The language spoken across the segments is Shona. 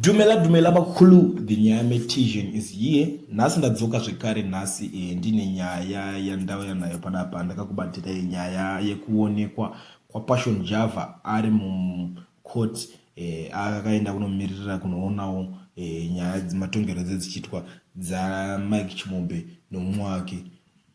Dumela dumela vakulu the nyame tision is here nhasi ndadzoka zvekare nhasi eh, ndine nyaya yandauya nayo panapa ndakakubatirai nyaya yekuonekwa kwapassion java ari mucourt eh, akaenda kunomiririra kunoonawo eh, nyaya matongerwo dzedzichiitwa dzamike chimombe nomumwe wake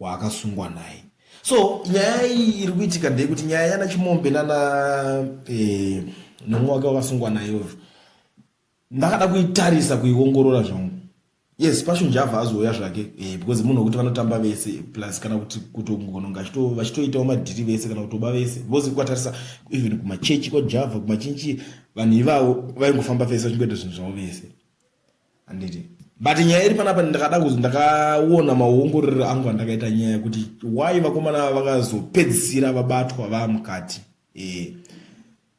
waakasungwa naye so nyaya iyi iri kuitika ndeyekuti nyaya yana chimombe nana eh, nomwe wake wakasungwa nayo ndakada kuitarisa kuiongorora zvangu yes pashunja avha azouya zvake eh, because munhu wekuti vanotamba vese plus kana kuti kutongononga vachitoitawo madhiri vese kana kutoba vese because kwatarisa even kumachechi kwajavha kumachinchi vanhu ivavo vaingofamba vese vachingoita zvinhu zvavo vese handiti but nyaya iri panapa ndakada kuzi ndakaona mauongororero angu andakaita nyaya yekuti why vakomana vakazopedzisira vabatwa vaa mukati e.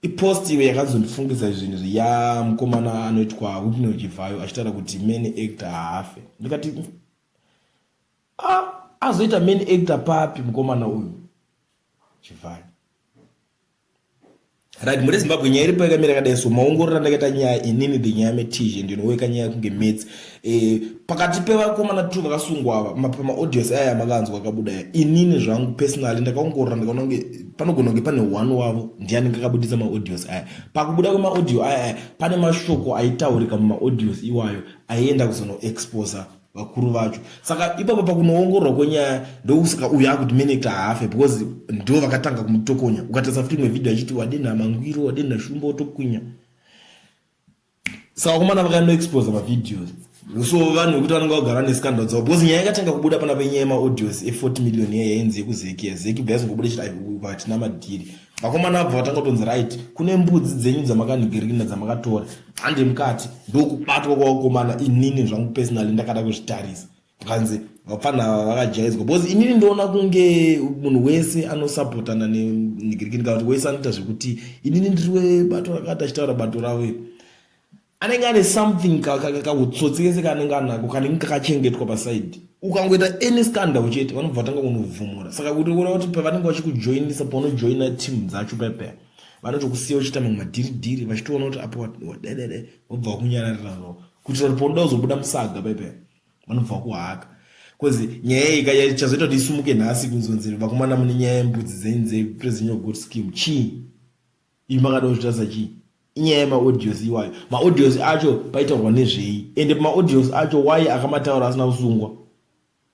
ipost iyo yakanzondifungisa zvinhu zviya mukomana anoitwa wipne uchivhayo achitaura kuti many actor haafe ndikati ah, azoita many actor papi mukomana uyu chivhayo right muri zimbabwe nyaya iripo yakamira kadai so maongorora ndakaita nyaya inini the nyaya metizhe ndinoweka nyaya kunge mets e, eh, pakati pevakomana two vakasungwa ava pamaaudios aya makanzwa akabuda ya inini zvangu personally ndakaongorora ndikaona kunge panogona kunge pane one wavo ndiani ngakabudisa maaudios aya pakubuda kwemaaudio aya aya pane mashoko aitaurika mumaaudios iwayo aienda kuzonoexposa vakuru vacho saka ipapo pakunoongororwa kwenyaya ndokusaka uyu akuti menekta haafe because ndivo vakatanga kumutokonya ukatarisa futi imwe vhidhio achiti wadenha mangwiro wadenha shumba otokwinya saka vakomana vakanoexposa mavideos so vanhu vekuti vanenge vagara nescandal dzavo because nyaya yakatanga kubuda pana penyaya yemaaudios e40 million iya yainzi yekuzeki zeki bva yazongobuda chiti hatina madhiri vakomana vabva vatanga kutonzi right kune mbudzi dzenyu dzamakanhigirina dzamakatora hande mukati ndokubatwa kwavakomana inini zvangu personally ndakada kuzvitarisa kanzi vapfana vakajaizwa because inini ndoona kunge munhu wese anosapotana nenhigirikini kana kuti wese anoita zvekuti inini ndiri webato rakati achitaura bato ravo iri anenge ane something kahutsotsi kese kaanenge anako kanenge kakachengetwa pasaidi ukangoita any scandal chete vanobva vatanga kunobvumura saka kuti kuona kuti pavanenge vachikujoinisa paunojoina team dzacho payapaya vanotokusiya uchiita mamwe madhiridhiri vachitoona kuti apo wadedede vobva vakunyararira no kuitira kuti paunoda kuzobuda musaga payapaya vanobva vakuhaka bcause nyaya iyi ka chazoita kuti isumuke nhasi kunzonzi vakomana mune nyaya yembudzi dzenyu dzepresident of good scheme chii Imi makada kuzvitadza chii? Inyaya yemaaudios iwayo. Maaudios acho paitaurwa nezvei? Ende pamaaudios acho why akamataura asina kusungwa?